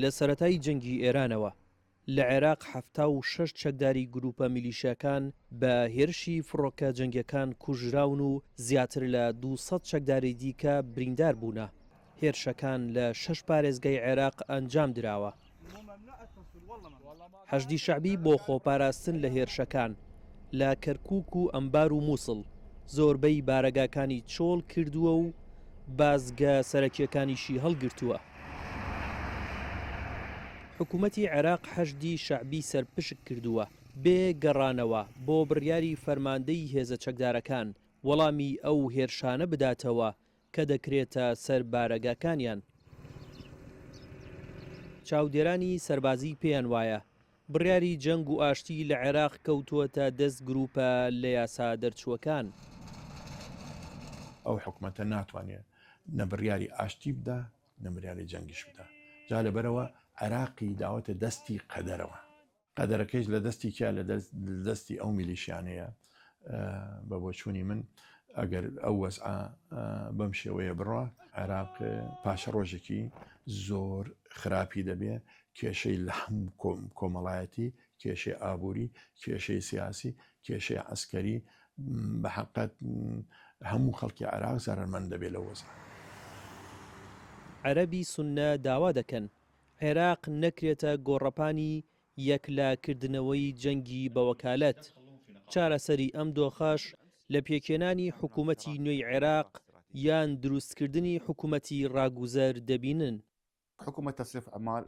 لە سەرەتای جەنگی ئێرانەوە، لە عێراق حەفتا و شەش چەکداری گرووپە میلیشیاکان بە هێرشی فڕۆکە جەنگیەکان کوژراون و زیاتر لە دوو سەد چەکداری دیکە بریندار بوونە. هێرشەکان لە شەش پارێزگای عێراق ئەنجام دراوە. حەشدی شەعبی بۆ خۆپاراستن لە هێرشەکان لە کەرکک و ئەمبار و مووسڵ زۆربەی بارەگاکانی چۆڵ کردووە و بازگە سەرەکیەکانیشی هەڵگرتووە. حکوومەتی عێراق حەشدی شەعبی سەرپشک کردووە بێ گەڕانەوە بۆ بڕیاری فەرماندەی هێزە چەکدارەکان وەڵامی ئەو هێرشانە بداتەوە کە دەکرێتە سەر بارەگاکانیان. چاودێرانی سەربازی پێیان وایە بڕیاری جەنگ و ئاشتی لە عێراق کەوتووەتە دەست گرووپە لە یاسا دەرچووەکان. ئەو حکومەتە ناتوانێت نە بڕیاری ئاشتی بدا نە بریاری جەنگیش بدا، جا لەبەرئەوە عێراقی داوەتە دەستی قەدەرەوە. قەدەرەکەیش لە دەستی کیا لە دەستی ئەو میلیشیانەیە بە بۆچوونی من ئەگەر ئەو وەزعە بەم شێوەیە بڕە عێراق پاشە ڕۆژێکی زۆر خراپی دەبێ کێشەی لە هەم کۆمەڵایەتی کێشەی ئابووری کێشەی سیاسی کێشەی عسکەری بە حقت هەموو خەڵکی عراق زارمەند دەبێت لە وەزان عەرەبی سنە داوا دەکەن عێراق نەکرێتە گۆڕەپانی یەکلاکردنەوەی جەنگی بەوەکالەت. چارەسەری ئەم دۆخەش لە پێکهێنانی حکوومەتی نوێی عێراق یان دروستکردنی حکوومەتی ڕاگوزەر دەبینن.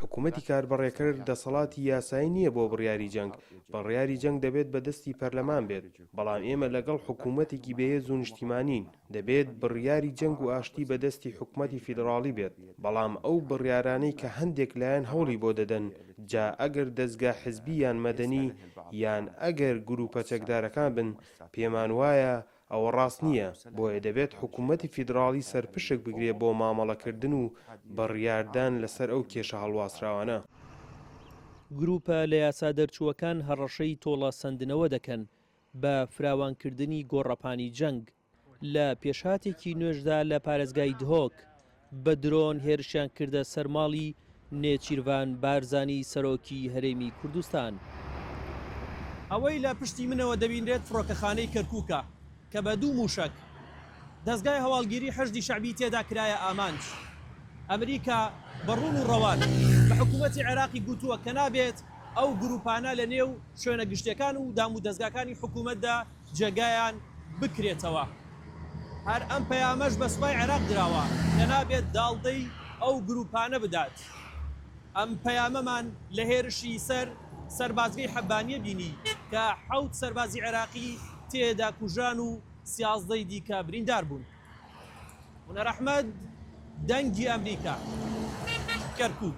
حکوومەتی کاربەڕێکەر دەسەڵاتی یاسایی نییە بۆ بڕیاری جەنگ، بڕیاری جەنگ دەبێت بە دەستی پەرلەمان بێت، بەڵام ئێمە لەگەڵ حکوومەتێکی بەهێز و نیشتیمانین. دەبێت بڕیاری جەنگ و ئاشتی بە دەستی حکومەتی فیدڕاڵی بێت، بەڵام ئەو بڕیارانەی کە هەندێک لایەن هەوڵی بۆ دەدەن، جا ئەگەر دەزگا حزبی یان مەدەنی یان ئەگەر گرووپە چەکدارەکان بن، پێمان وایە ئەوە ڕاست نییە، بۆیە دەبێت حکومەتی فیدڕاڵی سەرپشک بگرێت بۆ مامەڵەکردن و بڕیاردان لەسەر ئەو کێشە هەڵواسراوانە. گرووپە لە یاسا دەرچووەکان هەڕەشەی تۆڵە سەندنەوە دەکەن، بە فراوانکردنی گۆڕەپانی جەنگ، لە پێشهاتێکی نوێشدا لە پارێزگای دهۆک، بە درۆن هێرشیان کردە سەر ماڵی نێچیرڤان بارزانی سەرۆکی هەرێمی کوردستان. ئەوەی لە پشتی منەوە دەبینرێت فڕۆکەخانەی کەرکووکە کە بە دوو مووشەک، دەزگای هەواڵگیری حەشدی شەعبی تێدا کرایە ئامانج. ئەمریکا بە ڕوون و ڕەوان بە حکوومەتی عێراقی گوتووە کە نابێت ئەو گرووپانە لە نێو شوێنە گشتییەکان و دامودەزگاکانی حکوومەتدا جێگایان بکرێتەوە. هەر ئەم پەیامەش بە سوپای عێراق دراوە کە نابێت داڵدەی ئەو گرووپانە بدات. ئەم پەیامەمان لە هێرشی سەر سەربازگەی حەبانیە بینی کە حەوت سەربازی عێراقی تێدا کوژران و سیازدە ی دیکە بریندار بوون. هونەر ئەحمەد، دەنگی ئەمریکا، کەرکووک.